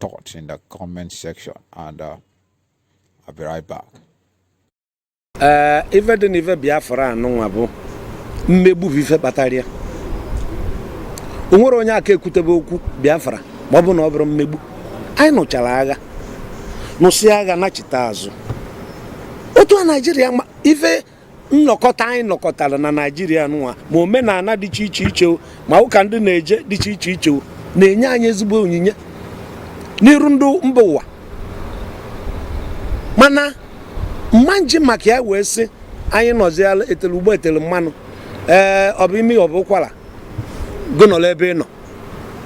thoughts in the comment section and uh, I'll be right back. Uh, ife dị n'ife Biafra anụnwa bụ mmegbu bụ ife kpatara ya o nwerọ onye aka ekwutebe okwu Biafra ma ọ bụ na ọ bụrọ mmegbu anyị nụchara agha nụsị agha nachite azụ otu a Naijiria ife nnọkọta anyị nọkọtara na naijiria nwa ma omenala dị iche iche iche ma ụka ndị na-eje dị iche iche iche na-enye anyị ezigbo onyinyo n'iru ndị mba ụwa mana m ma-eji maka ya wee sị anyị nọziala etele ugbo etele mmanụ ee ọ bụ imi ọ bụ ụkwara gị nọrọ ebe ị nọ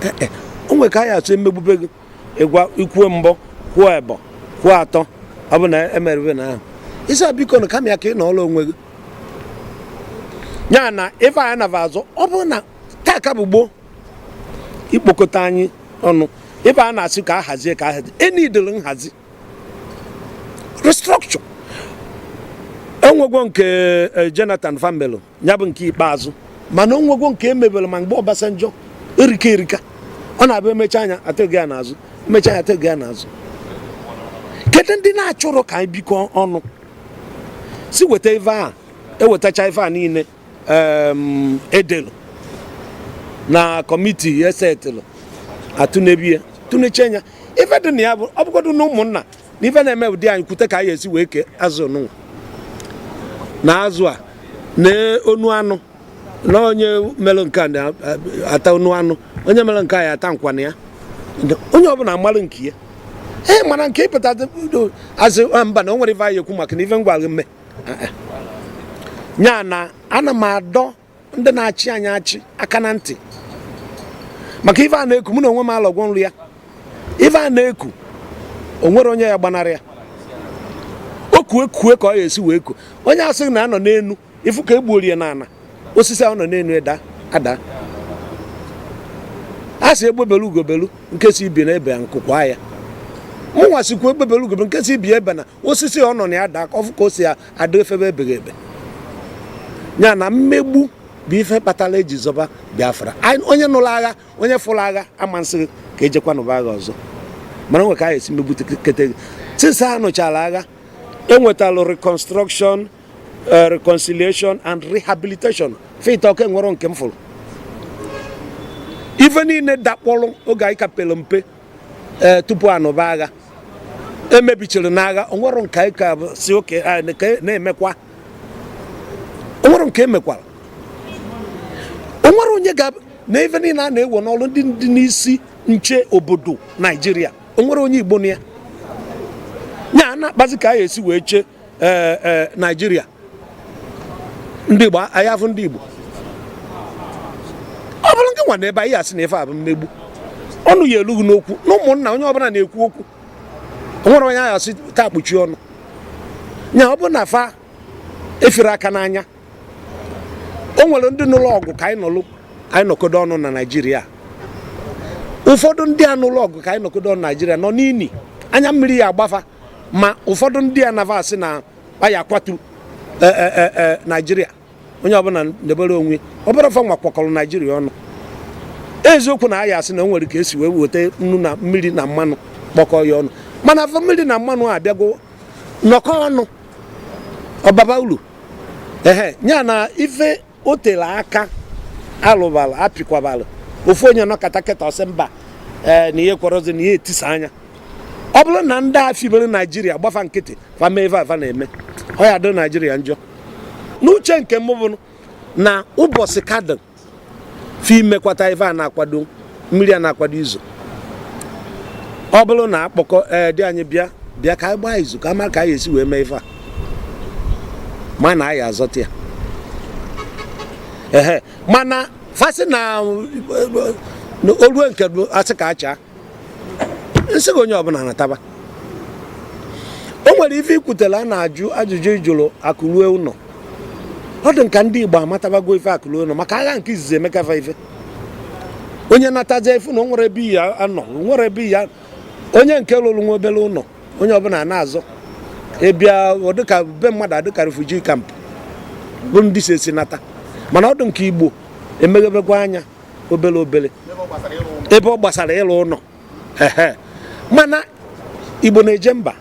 e, e, o nwere ka a ya-esi emegbube gị ịgwa i kwuo mbọ kwuo ebọ kwuo atọ ọ bụ na emerụbe na ahụ ị sị biko na kama ya ka ị nọọla onwe gị ya na ife anyị nava azụ ọ bụrụ na taa ka bụ gboo i kpokọta anyị ọnụ ife a na-asị ka a hazie ka a hazie enidere nhazi restructure enwegwo nke eh, Jonathan fa mebelụ ya bụ nke ikpeazụ mana o nwegwo nke emebere ma mgbe Obasanjo erika erika ọ na-abụ emecha anya atụghị ya n'azụ emecha anya atụghị ya n'azụ kedu ndị na-achọrọ ka anyị bikọ ọnụ sị weta ife a ewetacha ife a niine e delụ na kọmiti e setịlụ a tụnebe ya tụnechaa anya ife dị na ya bụ ọ bụgodu na ụmụnna n'ife na-eme ụdị anyị kwute ka a ya-esi wee kee azụ nụnwa na azụ a na onu anụ na onye mere nke a na-ata onu anụ onye mere nke a ya-ata nkwana ya onye ọbụla amalụ nke ya ee mana nke ịpụta azụ mba na o nwere ife a ya-ekwu maka na ife ngwa mme ya na ana m adọ ndị na-achị anyị achị aka na ntị maka ife a na-eku mụ na onwe m alọgwo nrọ ya ife a na-eku o nwerọ onye ya-agbanarị ya o kue kue ka ọ ya-esi wee ku onye asịna na ọ nọ n'enu ị fụ ka egbuorie na ana osisi ahụ nọ n'enu eda ada a sị egbe belu ugo belu nke sị ibe ya ebena nku kwaa ya mụnwa sịkwa egbe belu ugo belu nke sị ibe ya ebena osisi ọ nọ na ya daa ọ fụ ka o si adị efebe ebeghị ebe ya na mmegbu bụ ife kpatara eji zọba biafra onye nụrụ agha onye fụrụ agha ama-asị gị ka e jekwa nụba agha ọzọ mana nwe ka a ya-esi megbukete gị since a nụchara agha e wetalụ reconstruction eh, reconciliation and rehabilitation fa etọ ka enwerọ nke m fụrụ ife niile dakpọrọ oge anyị ka pere mpe ee tupu anụba agha emebichiri n'agha onwere nke anyị ka si oke na-emekwa onwere nke emekwara onwere onye ga na ife niile a na-ewe n'ọrụ ndị dị n'isi nche obodo naijiria onwere onye igbo na ya ya na-akpazi ka aya esi wee chee ee ee naijiria ndị igbo anyị afụ ndị igbo ọ bụrụ nke nwa na ebe anyị asị na ife a bụ mmegbu ọnụ ya elughị n'okwu na ụmụnna onye ọbụla na-ekwu okwu onwere onye aya asị taa kpuchie ọnụ nya ọ bụ na fa efere aka n'anya o nwere ndị nụlụ ọgụ ka anyị nọlụ anyị nọkodo ọnụ na naijiria ụfọdụ ndị a nụlụ ọgụ ka anyị nọkodo ọnụ naijiria nọ n'ini anya mmiri ya agba fa ma ụfọdụ ndị a na va asị na aya akwatu e, e, e, naijiria onye ọbụla debere onwe ọbụrụ fa nwa kwakọrọ naijiria ọnụ eziokwu na aya asị na o nwere ka esi wee weta nnu na mmiri na mmanụ kpọkọ ya ọnụ mana afụ mmiri na mmanụ abịago nọkọ ọnụ ọ baba ulu ehe ya na ife o tere aka alụbara apịkwabara ofu onye nọkata kịta ọ sị mba ee eh, na ya ekwerọzi na aya etisa nya ọ bụrụ na ndị a fibere naijiria gba fa nkịtị fa meva ife fa na-eme ọ ya adịrị naijiria njọ n'uche nke m bụ na ụbọchị ka dị fi mekwata ife a na-akwado mmiri a na-akwado izo ọ bụrụ na akpọkọ ee di anyị bịa bịa ka anyị gbaa izu ka ama ka anyị esi wee mee ife a mana anyị azọta ya ehe mana fa sị na olue nke asị ka achaa nsị gị onye ọbụla nataba o nwere ife ikwutelu a na-ajụ ajụjụ ịjụrụ akụ rue ụlọ ọ dị ka ndị Igbo amatabago ife akụ rue ụlọ maka agha nke izizi emeka fa ife onye natazie afụ na o nwere ebe ya anọ nwere ebe ya onye nke lụrụ nwa obere ụlọ onye ọbụla na-azọ ịbịa dịka be mmadụ adịka refugee camp bụ ndị si ezi nata mana ọ dụ nke igbo emeghebekwa anya obere obere ebe ọ gbasara ịlụ ụlọ mana igbo na-eje mba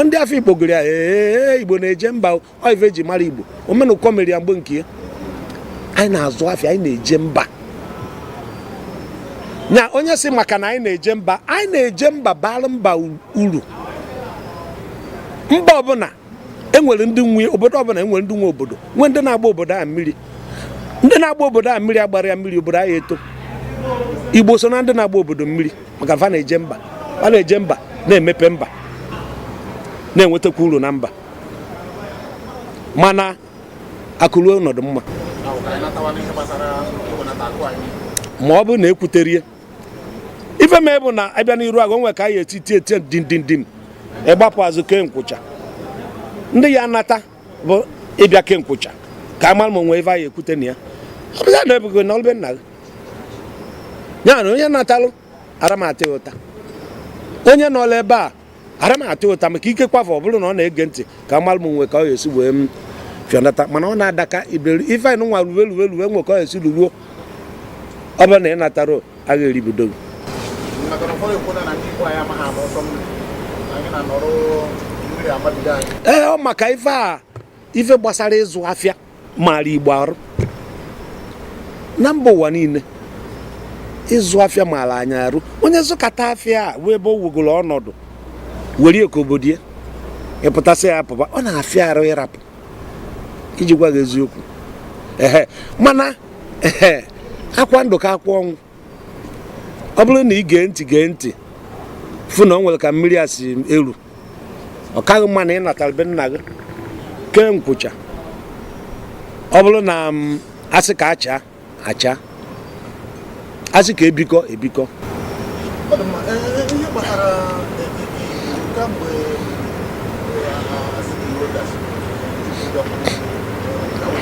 ndị afọ igbo gụrụ ya ee igbo na-eje mba ife eji mara igbo omenụkọ mere ya mgbe nke ya anyị na-azụ afịa anyị na-eje mba nya onye sị maka na anyị na-eje mba anyị na-eje mba bara mba uru mba ọbụla enwere ndị nwe obodo ọbụla enwere ndị nwe obodo nwee ndị na-agba obodo a mmiri ndị na-agba obodo a mmiri agbara ya mmiri obodo anyị eto igbo so na ndị na-agba obodo mmiri maka fa na-eje mba fa na-eje mba na-emepe mba na-enwetakwa uru na mba mana akụruo ọnọdụ mma ma ọ bụrụ na ekwuterie ife mee bụ na abịa n'iru agha o nwe ka a ya-eti tie tie dindindim ịgbapụ azụ kee nkwụcha ndị ya nata bụ ịbịa kee nkwụcha ka a mara ma o nwe ife a ya-ekwute na ya ọ bụla na ebugo nọlụ be nna gị ya na onye natalụ ara m ata ụta onye nọla ebe a ara m ata ụta maka ikekwafụ ọ bụrụ na ọ na-ege ntị ka mmalụ m nwe ka ọ ga-esi wee m fịọ nata mana ọ na-adaka iberi ife anyị nwa ruwe ruwe ruwe nwe ka ọ ga-esi ruruo ọ bụrụ na ị natara agha eribido gị ee ọ maka ife a ife gbasara ịzụ afịa maara igbo arụ na mba ụwa niile ịzụ afịa maara anyị arụ onye zụkata afịa a nwee ebe o wegoro ọnọdụ were ya ka obodo ya ịpụta sị ya apụba ọ na-afịa arụ ịrapụ iji gwa gị eziokwu ehe mana ehe akwa ndụ ka akwa ọnwụ ọ bụrụ na ị gee ntị gee ntị fụ na ọ nwere ka mmiri a si eru ọ kaghị mma na ị natara be nna gị kee nkwụcha ọ bụrụ na mm, asị ka acha acha asị ka ebikọ ebikọ Ọ dị mma. Ee, ee, ihe gbasara ee, ee, ee, kamgbe ee, a- a- a sị na ihe dachiri, ndị ọkụ, ee, ka ọ-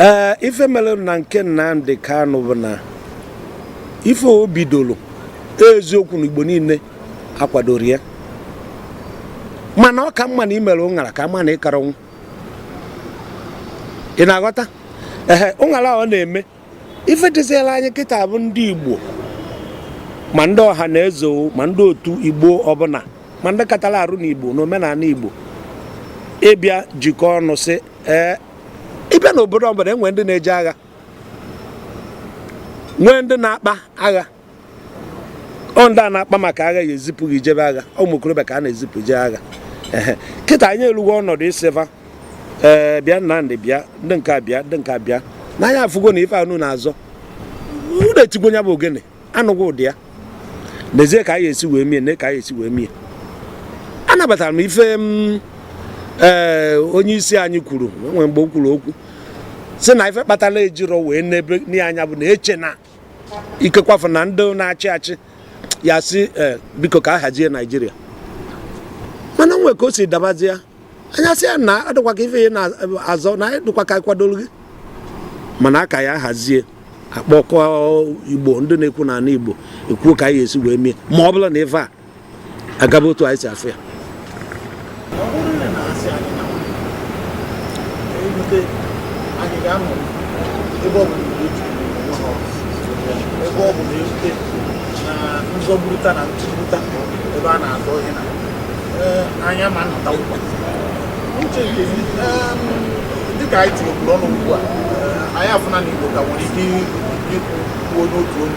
ee ife mere na nke Nnamdi Kanu bụ na ife o bidoro eziokwu na Igbo niile akwadoro ya mana ọ ka mma na imere ụṅara ka mma na ịkara ọnwụ ị na-aghọta ehe ụṅara ọ na-eme ife dịziela anyị kịta bụ ndị Igbo ma ndị ọha na eze ma ndị otu Igbo ọbụla ma ndị katara arụ na Igbo na omenala Igbo ịbịa jikọ ọnụ sị ee ịbịa n'obodo ọbụla e nwee ndị na-eje agha nwee ndị na-akpa agha ọ ndị a na-akpa maka agha ya ezipụ gị jebe agha ụmụ okorobịa ka a na-ezipụ jee agha kịta anyị elugo ọnọdụ ịsị va ee bịa Nnamdi bịa ndị nke a bịa ndị nke a bịa na anyị afụgo na ife unu na-azọ unu etigo nya bụ ogene anụgo ụda ya n'ezie ka anyị esi wee mie na ka anyị esi wee mie anabatara m ife m ee onye isi anyị kwuru nwee mgbe o kwuru okwu si na ife kpatara ejiro wee nebe n'ihe anya bụ na eche na ikekwafu na ndị na-achị achị ya-asị eh, biko ka a hazie naijiria mana nwe ka o si dabazie anyị asị ya na adịkwa ka ife ya na-azọ na anyị dịkwa ka anyị kwadoro gị mana aka ya hazie akpọkọ igbo ndị na-ekwu n'ala igbo ekwuo ka a ya-esi wee mie ma ọ bụlụ na ife a agaba otu anyị si afụ ya ebe ọ bụ na-erute na nzọgburuta na ntụgbuta ebe a na-azọ ihe na anyị ama nnọta ụkwa uche nke dịka anyị tinyekwuru ọnụ ugbu a anyị afụna na igbo ka nwere ike ikwu n'otu ọnụ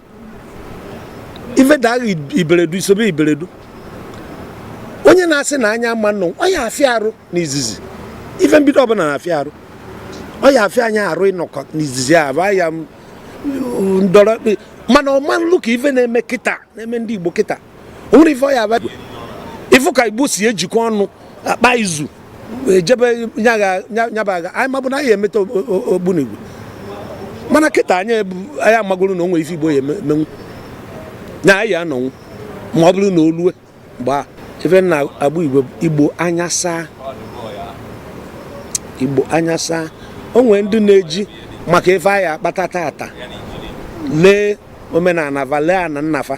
ife daghị iberedu isobe iberedu onye na-asị na anyị ama nnọ ọ ya afịa arụ n'izizi ife mbido ọbụla na-afịa arụ ọ ya afịa anyị arụ ịnọkọ n'izizi a bụ ya ndọrọ mana ọ ma nlu ka ife na-eme kịta na-eme ndị Igbo kịta o nwere ife ọ ya abịa ị fụ ka igbo si ejikọ ọnụ akpa izu ejebe nyabaga anyị mabụ na anyị emeta ogbunigwe mana kịta anyị anyị amagoro na o nwere ife igbo ya emenwu na anyị anọnwu ma ọ bụrụ na o lue mgbe a ife na agba igbo igbo anya saa igbo anya saa o nwere ndị na-eji maka ife fa ya akpata tata lee omenala fa lee ana nna fa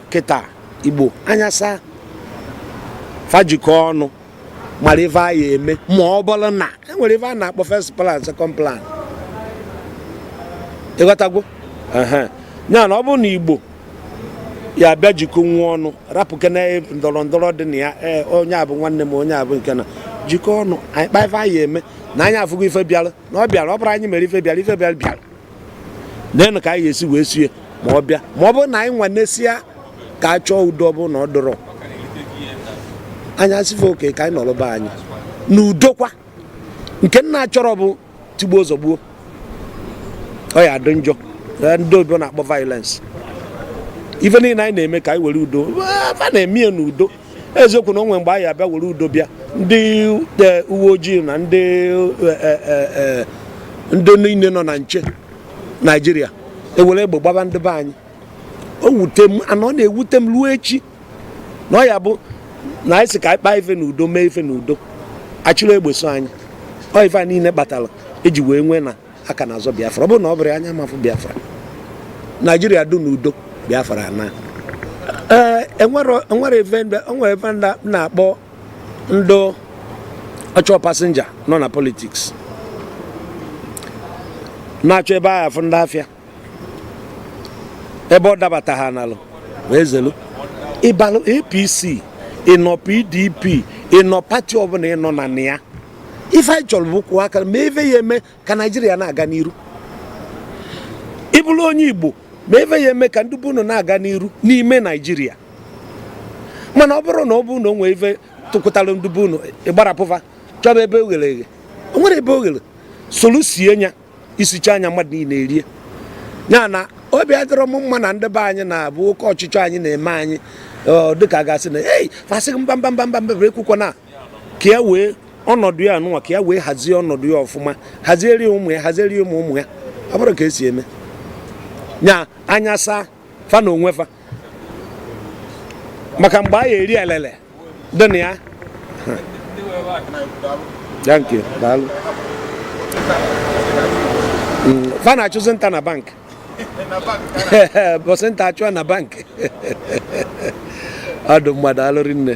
kịta igbo anya saa fa jikọ ọnụ mara ife a ya eme ma ọ bụrụ na e nwere ife a na-akpọ first plan second plan ị ghọtagwo ya na ọ bụrụ na igbo ya bịa jikọ onwe ọnụ rapụkene ndọrọ ndọrọ dị na ya e, onye a bụ nwanne m onye a bụ nke na jikọ ọnụ anyị kpa ife anyị eme na anyị afụgo ife bịara na ọ bịara ọ bụrọ anyị mere ife bịara ife bịara bịara neenụ ka anyị esi wee sie ma ọ bịa ma ọ bụrụ na anyị nwanesịa ka a chọọ udo ọ bụrụ na ọ dịrọ anyị asị fa okay ka anyị nọrọ be anyị na udokwa nke m na-achọrọ bụ tigbuo zọgbuo ọ ya adị njọ ndị oyibo na-akpọ violence ife niile anyị na-eme ka anyị were udo fa na-eme ya n'udo eziokwu na o nwe mgbe anyị abịa were udo bịa ndị e, uwe ojii na ndị e, e, ndị niile nọ na nche naijiria ewere egbe gbaba ndị be anyị o wute m and ọ na-ewute m ruo echi na ọ ya bụ na anyị sị ka anyị kpaa ife na udo mee ife na udo a chịrị egbe so anyị ọ ife a niile kpatara e ji wee nwee na a ka na-azọ biafra ọ bụrụ na ọ bụrụ anyị ama afụ biafra naijiria dị n'udo biafra na ee e nwere ife a na-akpọ ndị ọchọ passenger nọ na politics na-achọ ebe a ya afụ ndị afịa ebe ọ dabata ha nalụ wee zelu ị balụ apc ị nọ pdp ị nọ party ọbụla ị nọ na ya ife anyị chọrọ bụ kwụọ aka ma ife ị ya-eme ka naijiria na-aga n'iru ị bụrụ onye igbo ma ife ị ya-eme ka ndị be unu na-aga n'iru n'ime naijiria mana ọ bụrụ na ọ bụrụ na o nwee ife tụkwụtara ndị be unu ị gbara pụva chọba ebe o ghere eghe o nwere ebe o ghere solu sie nya i sichaa nya mmadụ niile erie ya na obi adịrọ m mma na ndị be anyị na-abụ oke ọchịchọ anyị na-eme anyị dịka a ga-asị na ei fa sị mba mba mba mba mba ekwukwana ka ya wee ọnọdụ ya anụnwa ka ya wee hazie ọnọdụ ya ọfụma hazieri ụmụ ya hazieri ụmụ ụmụ ya ọ bụrụ ka e si eme nya anya saa fa na onwe fa maka mgbe a ya-eri elele dị na ya thank you daalụ mm, fa na-achụzi nta na bank mbọsị nta a chụa na bank ọdụ mmadụ alụrị nne